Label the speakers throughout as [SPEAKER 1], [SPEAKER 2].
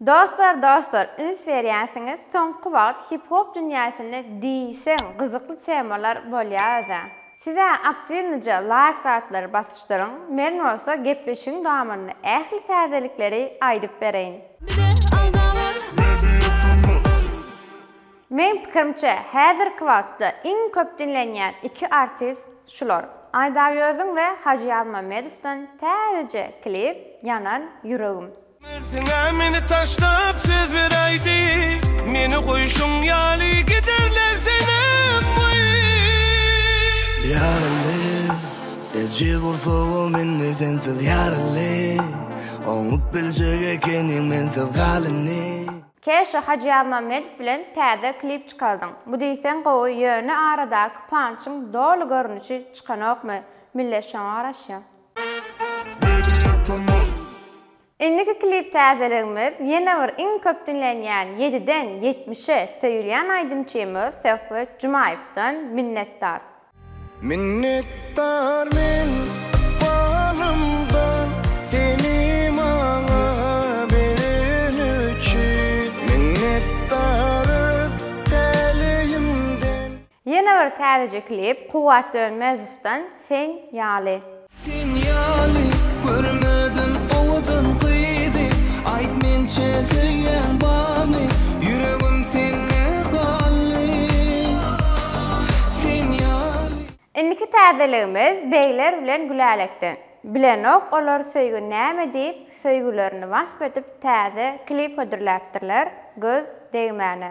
[SPEAKER 1] Dostlar dostlar üns berýänsiňiz soňky wagt hip hop dünýäsinde diýseň gyzykly temalar bolýa özä. Sizä aktiwnyja laýk zatlary basyşdyryň men bolsa gepleşigiň dowamynda ähli täzelikleri aýdyp bereýin. Bize agza bol! Meň pikirimçe häzirki wagtda iň köp diňlenýän iki artist şular Aýdawýöziň we Hajy Ýazmamedowdan täzeje klip Ýanan ýüregim. Mersiňe meni
[SPEAKER 2] taşlap söz beräýdi, Meni goýşuň ýaly giderler senem wüy.
[SPEAKER 3] Ýarly, eje bolsa ol mende sensiz ýarly, Oňup biljek ekeniň mensiz galyny. Käşe
[SPEAKER 1] Hajyýazmämmedow bilen täze klip çykardyň. Bu diýseň gowy ýöne aradaky pançyň doly görnüşi çykanokmy? Millet şoňa garaşýa. Indiki klip täzeligimiz ýene bir iň köp diňlenýän ýediden ýetmişe söýülýän aýdymçymyz Söhbet Jumaýewden Minnetdar. Minnetdar
[SPEAKER 3] men balymdan seni maňa bereni üçin minnetdarys täleýimden. Ýene bir
[SPEAKER 1] täzeje klip Kuwwat Dönmezowdan Sen ýaly. Sen
[SPEAKER 2] ýaly görmedim owadan gyzy Aýt mençe söýýäň barmy ýüregim sende galdy Sen ýaly. Indiki
[SPEAKER 1] täzeligimiz Begler bilen Gülälekden. Bilenok olar söýgi näme diýip söýgülerini wasp edip täze klip hödürläpdirler, göz degmäne.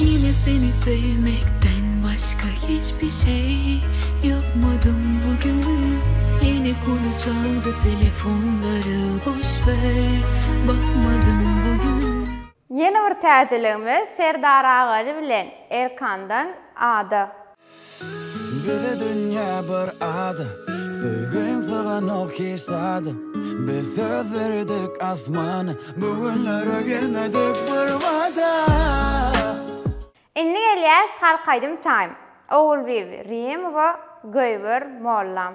[SPEAKER 4] Ýene seni söýmekden başga hiç bir şey ýapmadym bu gün Ýene konu çaldy telefonlara boş ver bakmadym bu gün Ýene bir
[SPEAKER 1] täzeligimiz Serdar Agaly bilen Erkandan Ada.
[SPEAKER 3] Bize dünýä bir ada, Söýgiň syganok hiç zada. Biz söz berdik asmana, Bu günlere gelmedik bir wada.
[SPEAKER 1] Indi gelýäs halk aýdym time. Ogulbibi, Rimowa, Göýber, Mollam.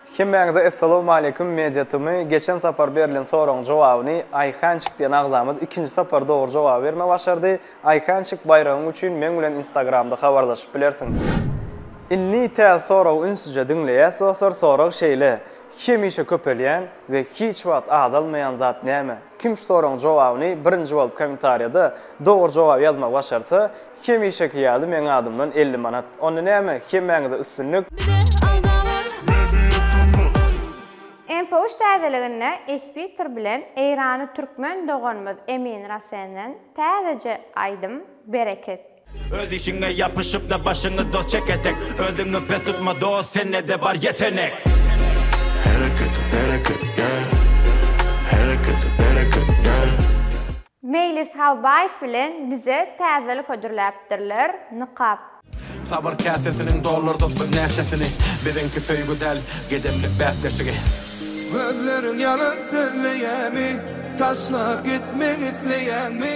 [SPEAKER 1] Hemmäňize
[SPEAKER 5] Essalawmaleýkum Media Tmy geçen sapar berlen soragyň jogabyny Aýhançik diýen agzamyz ikinji sapar dogry jogaby berme başardy Aýhançik baýragyň üçin meň bilen instagramda habarlaşyp bilersiň Indi täze soragy ünsüje diňleýäs dostlar sorag şeýle hemişe köpelýän we hiç wagt azalmaýan zat näme kim şu soragyň jogabyny birinji bolup komentarýada dogry jogaby ýazmagy başarsa Hemişeki ýaly meň adymdan elli manat. Onda näme, hemmäňize üstünlik!
[SPEAKER 1] Infowiş täzeliginde Ispitr bilen Eýrany Türkmen doganymyz Emin Rasenden täzeje aýdym Bereket. Öz işiňe
[SPEAKER 6] ýapyşypda başyňy dos çek etek Özüňi pes tutma dos sende-de bar ýetenek Hereket
[SPEAKER 3] bereket yeah Hereket bereket yeah. Meýlis
[SPEAKER 1] Halbaýew bilen bize täzelik hödürläpdirler, nykap. Sabyr
[SPEAKER 6] käsesiniň doldurdyk biz näçesini, biziňki söýgi däl, gedemlik bäsleşigi. Gözleriň
[SPEAKER 2] ýalan sözleýärmi, taşlap gitmek isleýäňmi?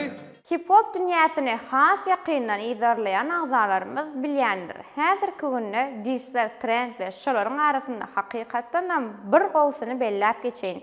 [SPEAKER 1] Hip-hop dünýäsini has ýakyndan yzarlaýan agzalarymyz bilýändir, häzirki günde dissler trend we şolaryň arasynda hakykatdanam bir gowusyny belläp geçeýin,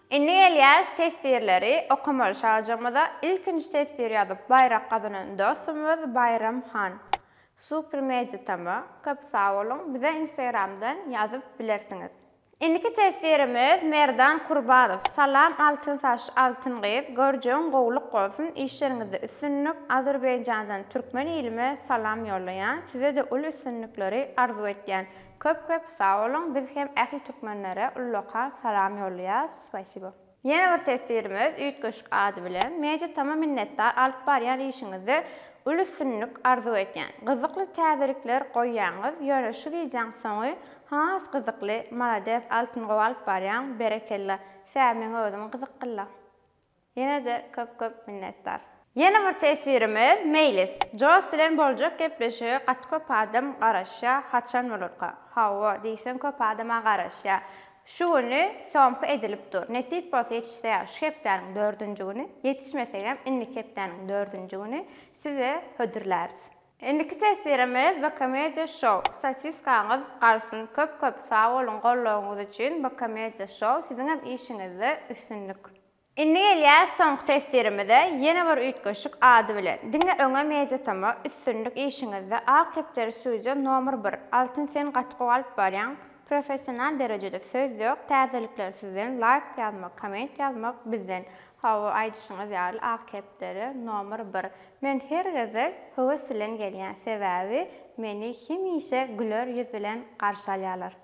[SPEAKER 1] Indi gelýäs teswirleri okamaly şajygymyza ilkinji teswir ýazyp baýrak gazanan dostumyz Baýram han super media tm köp sag boluň bize instagramdan ýazyp bilersiňiz. Indiki teswirimiz Merdan Kurbanow salam altyn saç altyn gyz görjegiň gowluk bolsun işleriňizde üstünlik Azerbaýjandan türkmen ilime salam ýollaýan sizede uly üstünlikleri arzuw etýän Köp köp sag boluň biz hem ähli türkmenlere ullakan salam ýollaýas spasibo. Ýene bir teswirimiz üýtgeşik ady bilen. Media tama minnetdar alyp barýan işiňizde uly üstünlik arzuw edýän. Gyzykly täzelikler goýýaňyz, ýöne şu wideoň soňy has gyzykly, malades altyn gowy alyp barýaň, berekella, sä meň özüm gyzykgynla. Ýene-de köp köp minnetdar. Ýene bir teswirimiz Meýlis. Joss bilen boljak gepleşige gaty köp adam garaşýa haçan bolarka. Hawa diýseň köp adama garaşýa. Şu güni syomka edilip dur. Nesip bolsa ýetişse şu hepdäniň dördünji güni, ýetişmesegem indiki hepdäniň dördünji güni size hödürläris. Indiki teswirimiz Bkomediýa show. Sosiskaňyz galsyn. Köp köp sag boluň goldawyňyz üçin Bkomediýa show. Siziňem işiňizde üstünlik. Indi gelýäs soňky teswirimize, ýene bir üýtgeşik ady bilen. Diňe öňe Mediatoma, üstünlik işiňizde, Ak Depderi Studio nomer bir, Altyn sen gaty gowy alyp barýaň, professional derejede söz ýok, täzelikler sizden, laýk ýazmak, komment ýazmak bizden. Hawa aýdyşyňyz ýaly Ak Kepderi nomer bir. Men her gezek höwes bilen gelýän sebäbi meni hemişe güler ýüz bilen garşy alýalar.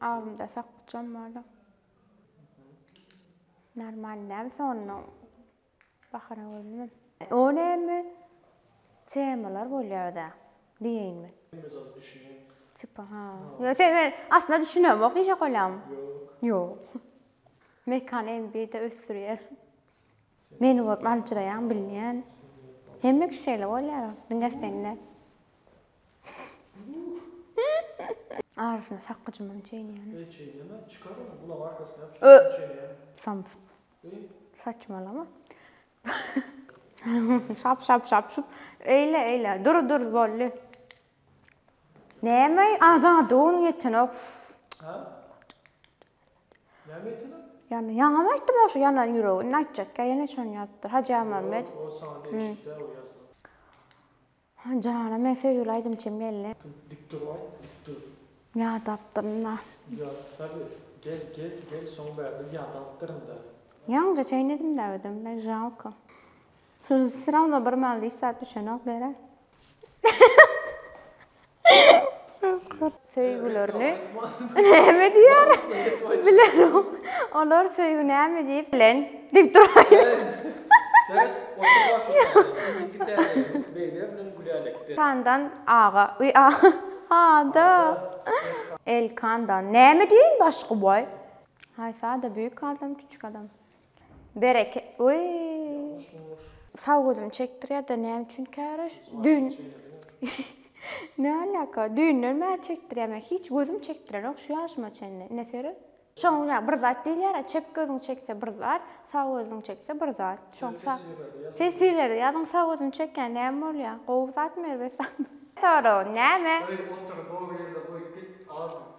[SPEAKER 1] Agzymda sakgyçam bardy. Normal däl sonda bahana görünmedi. O näme temalar bolýar özä diýeýin men. Özem düşünýän. Tipa ha. Ýöne sen men aslynda düşünemok diýjek bolýaňmy? Ýok. Ýok. Mekan MB-de ösdürýär. Meni görüp aljyraýan bilýän. Hemme kişi şeýle bolýar. Diňe sen däl. Arysyna sak gyjyman çeýneýän. Eý çeýneme, çykar ony,
[SPEAKER 7] gulak arkasyna ýap, şeýdip çeýneýän. Samsyk. Eý. Saçmalama.
[SPEAKER 1] Şap şap şap şup. Eýle eýle. Dur dur boldy. Näme azady ony ýetenok. Hä? Näme
[SPEAKER 7] ýetenok? Ýany ýaňam aýtdym
[SPEAKER 1] oşo ýanan ýüregi. Indi aýtjakka ýene şony ýazypdyr. Hajy Ýazmammedow. Ýok, o saňa
[SPEAKER 7] degişli däl o ýazma.
[SPEAKER 1] Hä janam men söýgüli aýdymçym geldi. Dik dur aýt
[SPEAKER 7] dik dur. Ýadapdyrynda.
[SPEAKER 1] Ýa tabi gel
[SPEAKER 7] gel gel şoň bärde ýadapdyrynda. Ýaňja
[SPEAKER 1] çeýnedimdä özüm men žalko. Şu srawna bir malda hiç zat düşenok bere. Söýgülerini näme diýer? Bilerom. Olar söýgi näme diýip bilen? Diýip duraýlar. Sen otur başyňda. Indiki täzelerimiz
[SPEAKER 7] beýle bilen gülälekde. Kandan aga.
[SPEAKER 1] Uý a. Ada. Elkandan. Näme diýeýin başga boý? Haýsy ada büýük adam, kiçik adam? Bereke öýýýy. Sag gözüm çekdirýäda näme üçin käraş düýn Ne alaka düýnden bäri çekdirýär men hiç gözüm çekdirenok şu ýaşyma çenli ine seret. Şoň ýa bir zat diýilýärä çep gözüň çekse bir zat sag gözüň çekse bir zat şoň sa Seslileri ýazyň sag gözümi çekýän näme bolýa gowy zatmy erbet zatmy. Soragy näme? Goý otur gowy
[SPEAKER 7] ýerde goýup git az.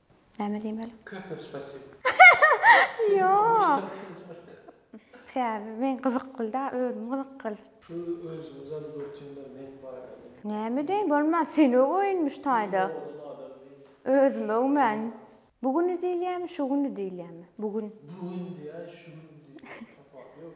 [SPEAKER 1] Näme diýmeli? Köpek
[SPEAKER 7] spasibo.
[SPEAKER 1] Sebäbi men gyzykly da özüm gyzykly. Şu özüňizem
[SPEAKER 7] dürtüňler men baýragy. Näme deýin
[SPEAKER 1] bolmaz sen öw öýünmiş taýda. Özüm öwmen. Bu güni diýilýämi şu güni diýilýämi bu gün. Bu gün diýä
[SPEAKER 7] şu gün diýilýä tapawuty ýok.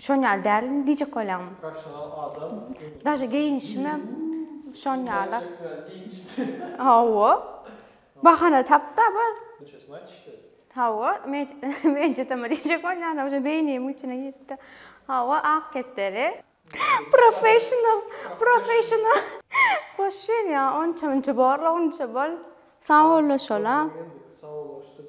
[SPEAKER 7] Şon ýaly
[SPEAKER 1] däl indi diýjek bolýan. Professional
[SPEAKER 7] adam. Daže
[SPEAKER 1] geýinişimem şon ýaly.
[SPEAKER 7] Hawa.
[SPEAKER 1] Bahana tapda bu. Çesini aýt işte.
[SPEAKER 7] Hawa, men
[SPEAKER 1] men çeteme diýjek bolýan uje beýnimiň içine giripdi. Hawa, ak kepderi. Professional, professional. Boş ýer ýa, onça-munça borla onça bol. Sag bollaşala. Sag
[SPEAKER 7] bollaşdyk.